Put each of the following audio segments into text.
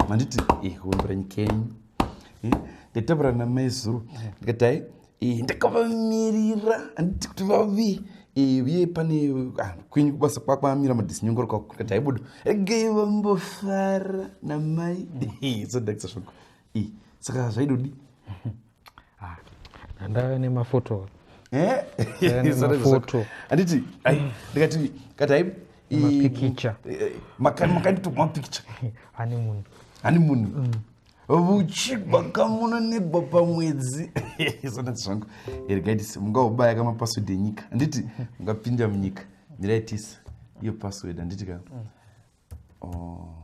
manditi eh, wemburanyi kenyu eh, ndataura namai zuro ndikati hai eh, ndakavamirira anditi kuti vavi uye pane ah, kwenyu kubasa kwakwamira madisinyongoro kwako ndikati haibudo regei vambofara namai so ndakisa zvako saka zvaidodi ah, ndave nemafoto eh? anditi ndikati kati hai mapikicha eh, makandito mapikicha ani munhu ani munhu mm. vuchigwa kamuna negwa pamwedzi sonati zvangu ergaitisi mungaubaya kamapasword enyika anditi mungapinda munyika miraitisa iyo password anditi ka mm. oh.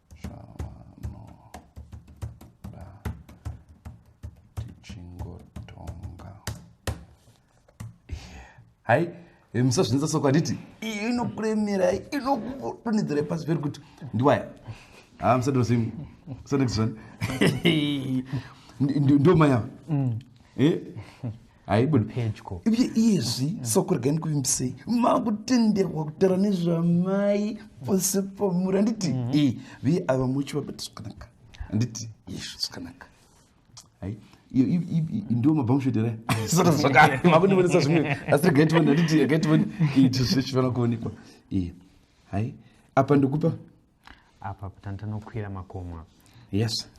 hai eh, musazvinza soko handiti iyo inokuremera inokudonedzera pasi peri kuti ndiwaya ha ah, musadozim so next one ndomaya mm. eh? haibudi pedyo uye iyezvi mm. soko regai ndikuvimbisei makutenderwa kutaura nezvamai pose pamuri handiti mm -hmm. e viye ava muchi vabati zvakanaka handiti yeshu zvakanaka hai ndiwo mabhamushotere saka zvakare makundibonesa zvimwe asi regai tione handiti regai tione iti zvichifanira kuonekwa e hai apa ndikupa apa tanokwira makomo apa yes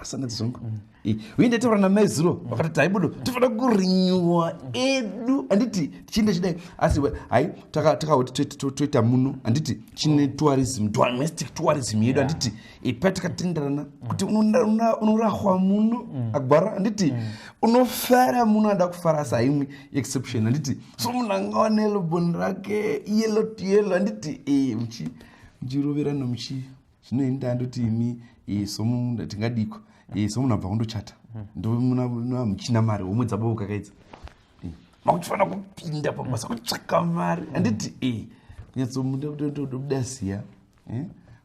asana ah, dzongo mm. uye ndaitaura namai zuro mm. vakati taibudo tofanira kurinyuwa edu handiti tichienda chidai asi hai takauti toita muno handiti chine mm. tourism domestic tourism yedu handiti ipa takatenderana kuti unorahwa muno agwara handiti unofara muno ada kufara saimwe exception handiti so munhu angawanelo boni rake yelo to yelo handiti eh, muchiroverana muchi zvino ini ndandoti imi eh, somunhu tingadiko eh, somunhu abva kundochata hmm. ndomuchina mari homwe dzabavo kakaidza eh, makuchifanira kupinda pamasa kutsvaka mari hmm. handiti e kunyatsomuda kutodobuda ziya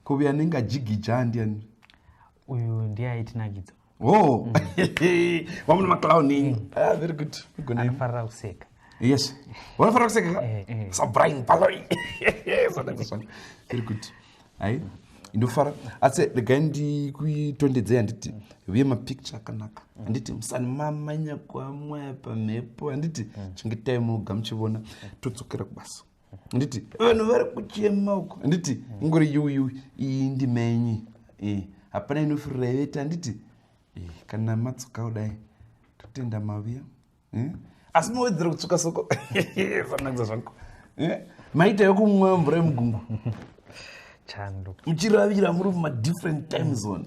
ko uyo anenge ajigija andiani uyu ndiye aitinakidza oh mm. wamuna maclown enyu mm. ah, very good anofarira kuseka yes wanofarira kuseka ka eh, eh. sabrian paloi very good hai ndofara asi regai ndikuitondedzei handiti uye mapicture akanaka handiti musani mamanya kwamwaya pamhepo handiti mm. chengetai munoga muchivona todzokera kubasa nditi vanhu vari kuchema uko nditi ngori yuyu iyi ndimenyi eh, hapana inofureveta nditi eh, kana matsuka kudai totenda maviya eh? asi mawedzera kutsuka soko zvanakisa zvangu maita yokumwa mvura yemugungu chando muchiravira muri mumadifferent time zone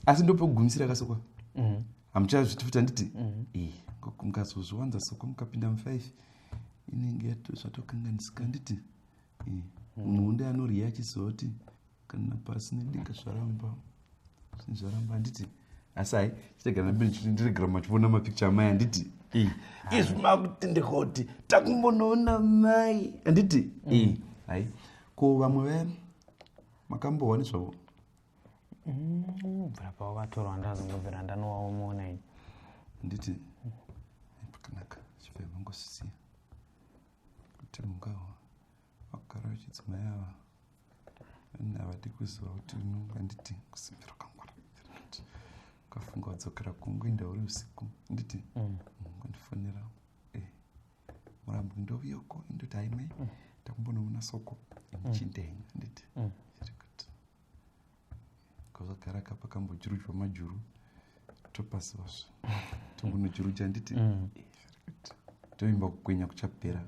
asi ndopekugumisira kasokwa mm-hmm. hamuchazviti futi handiti mhm. eh, mukazozviwanza soko mukapinda mufive inenge zvatokanganisika handiti eh, mhm. muhunde anorya achizoti kana pasi nedinga zvaramba zvinhu zvaramba handiti asi hai chiregera ndiregera machiona mapicture amai handiti eh, izvi makuti ndikoti takumbonoona mai handiti hai ko vamwe vaya makambohwa nezvavo mm, bvira pavo vatorwa ndazongobvira ndanowaomona ini nditi pakanaka chibva vangosisiya kuti mungawa vakugara vechidzimai ava ini havadi kuziva kuti unonganditi kusimbira kwangwara ukafunga wadzokera kungu inda uri usiku nditi mm. mungondifonera eh, murambo ndovuya uko indoti haimai mm. takumbonoona soko imuchindenga nditi mm. kazvagara ka pakambojurudzwa majuru topasivasva tongonojuruja handiti mm. eh, toimba kukwenya kuchapera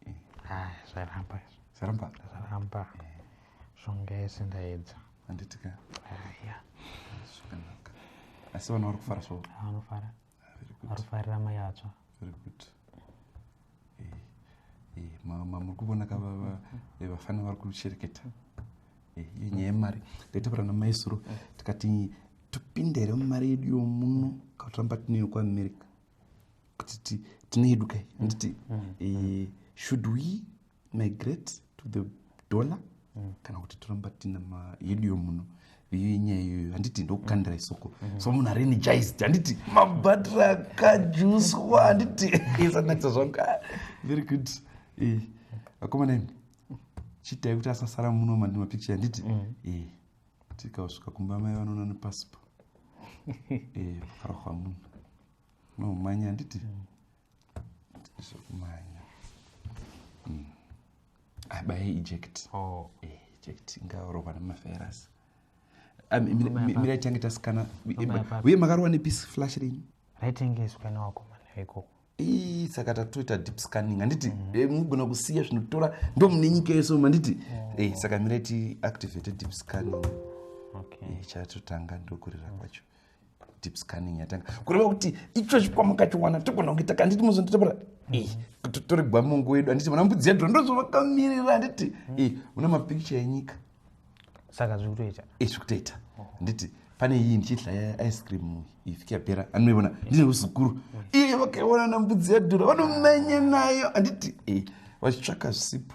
eh. ah, zvaramba zvaramba zvaramba eh. zvonga yese ndaedza handitika ah, zvakanaka asi vana vari kufara so vanofara arifarira mai atsva very good eh, eh, mama muri kuvona ka eh, vafana vari kushereketa iyo nyaya yemari taitaura namaisuro tikati topinda here mumari yedu yomuno katoramba tineyo kuamerica kuti tine yedu kai handiti mm, mm, mm. should we migrate to the dollar mm. kana kuti toramba tina mayedu yomuno iyo inyaya iyoyo handiti ndokukandira isoko mm-hmm. so munhu arenegized handiti mabhatiri akajuswa handiti isanakisa zvangu ah, very good eh, akomana imi chiitai kuti asasara muno mandi mapicture handiti mm. eh, tikausvika kumba mai vanoona nepasipo eh, kufara kwamunhu nomumanya handiti mm. zvekumanya mm. abaye eject oh. eh, eject ingarohwa nemaferasi ah, mira ichange tasikana uye makarowa nepiece flash rini raitengeswa newakomana ikoko ii saka tatoita deep scanning handiti mm. eh, mugona kusiya zvinotora ndo mune nyika yeso manditi oh. eh, saka mira ti activate deep scanning okay. eh, chatotanga ndokurira kwacho mm. deep scanning yatanga kureva kuti icho chikwama kachiwana togona kuita kanditi muzonditapura tori gwa mungu wedu handiti muna mbudzi yadhura ndozvavakamirira handiti mm. muna mapikicha enyika saka zviri kutoita e zviri kutoita handiti pane iyi ndichidla yaice cream ifike yapera anoivona ndine uzukuru mm. iye vakaionana mbudzi yadhura vanomenya nayo handiti e vachitsvaka zvisipo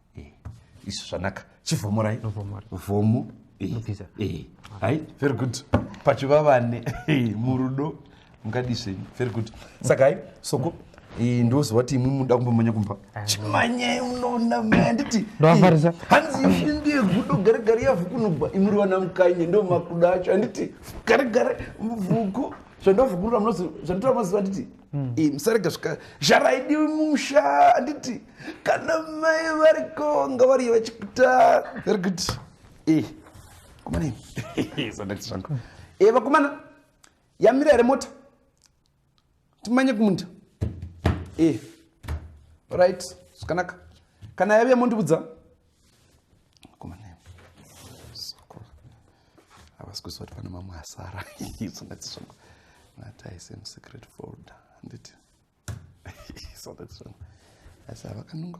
eh, izvo zvanaka chivhomorai vhomo eh, hai very good pachivavane murudo mukadii zvenyu very good saka hai soko ndoziva kuti imwi muda kumbomanya kumba ah. chimanyai unoona manditi ndoafarisa hanzi ifi ndiye gudo gare gare yavhu kunobva imuri vana mukanye ndo makuda acho handiti gare gare vhuku zvandovhukurura zvanditoa maziva nditi mm. Eh, musarega zvika zvaraidiwi musha handiti kana mai variko nga variyo vachikuta vari kuti e eh, kumana sandakti zvangu e eh, vakomana yamira here mota timanye kumunda e right zvakanaka kana yave yamondibudza havasi kuziva kuti pane mamwe asara isonati zvangu nataise musecret folder handiti isonati zvangu asi havakanunga